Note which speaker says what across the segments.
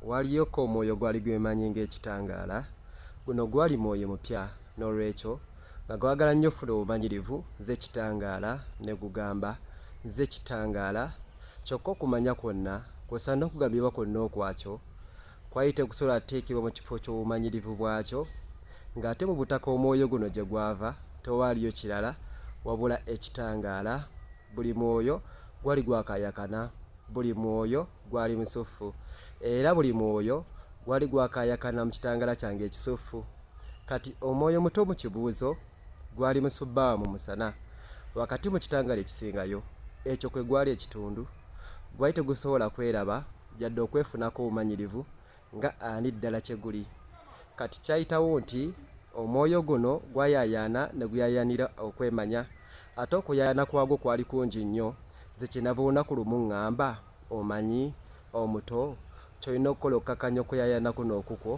Speaker 1: Waliyokka omwoyo ogwali gwemanyi ng'ekitangaala. Guno gwali mwoyo mupya, n'olwekyo, nga gwagala nnyo okufuna obumanyirivu, nze kitangaala, ne gugamba, Nze kitangaala. Kyokka okumanya kwonna, kwosa n'okugabibwa kwonna okwakyo, kwali tekusobola kuteekebwa mu kifo ky'obumanyirivu bwakyo, nga ate mu butaka omwoyo guno gye gwava tewaaliyo kirala wabula ekitangaala. Buli mwoyo gwali gwakaayakana, buli mwoyo. gwali musuffu, era buli mwoyo gwali gwakaayakana mu kitangaala kyange ekisuffu. Kati omwoyo omuto mu kibuuzo gwali musubbaawa mu musana, wakati mu kitangaala ekisingayo. Ekyo kwe gwali ekitundu. Gwali tegusobola kweraba, yadde okwefunako obumanyirivu. nga ani ddala kye guli. Kati kyayitawo nti omwoyo guno gwayaayaana ne guyaayaanira okwemanya. Ate okuyaayaana kwagwo kwali kungi nnyo, nze kye nava olunaku lumu ŋŋamba, Omanyi, omuto, ky'olina okukola okukkakkanya okuyaayaana kuno okukwo?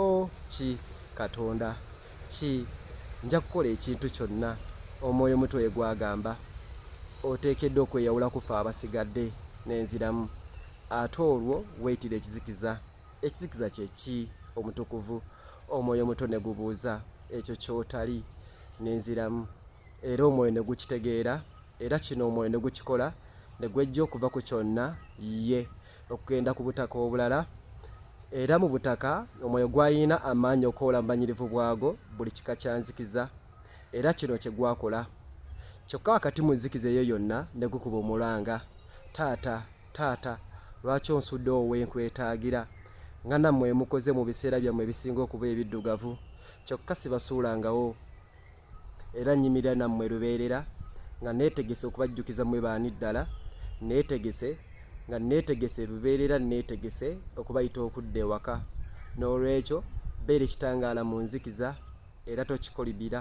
Speaker 1: O, ki, Katonda! Ki, nja kukola ekintu kyonna Omwoyo Omutukuvu gye gwagamba. Oteekeddwa okweyawula ku ffe abasigadde. Ne nziramu. ate olwo weeyitira ekizikiza ekizikiza kye ki omutukuvu omwoyo omuto ne gubuuza ekyo ky'otali n'enziramu era omwoyo ne gukitegeera era kino omwoyo ne gukikola ne gwejja okuva ku kyonna ye okugenda ku butaka obulala era mu butaka omwoyo gwalina amaanyi okoola mu banyirivu bwago buli kika kya nzikiza era kino kye gwakola kyokka wakati mu nzikiza eyo yonna ne gukuba omulanga taata taata lwaki onsudde owenkwetaagira nga nammwe emukoze mu biseera byammwe ebisinga okuba ebiddugavu kyokka sibasuulangawo era nnyimirira nammwe lubeerera nga neetegese okubajjukiza mwe baani ddala neetegese nga neetegese lubeerera neetegese okubayita okudda ewaka n'olwekyo beera ekitangaala mu nzikiza era tokikolibira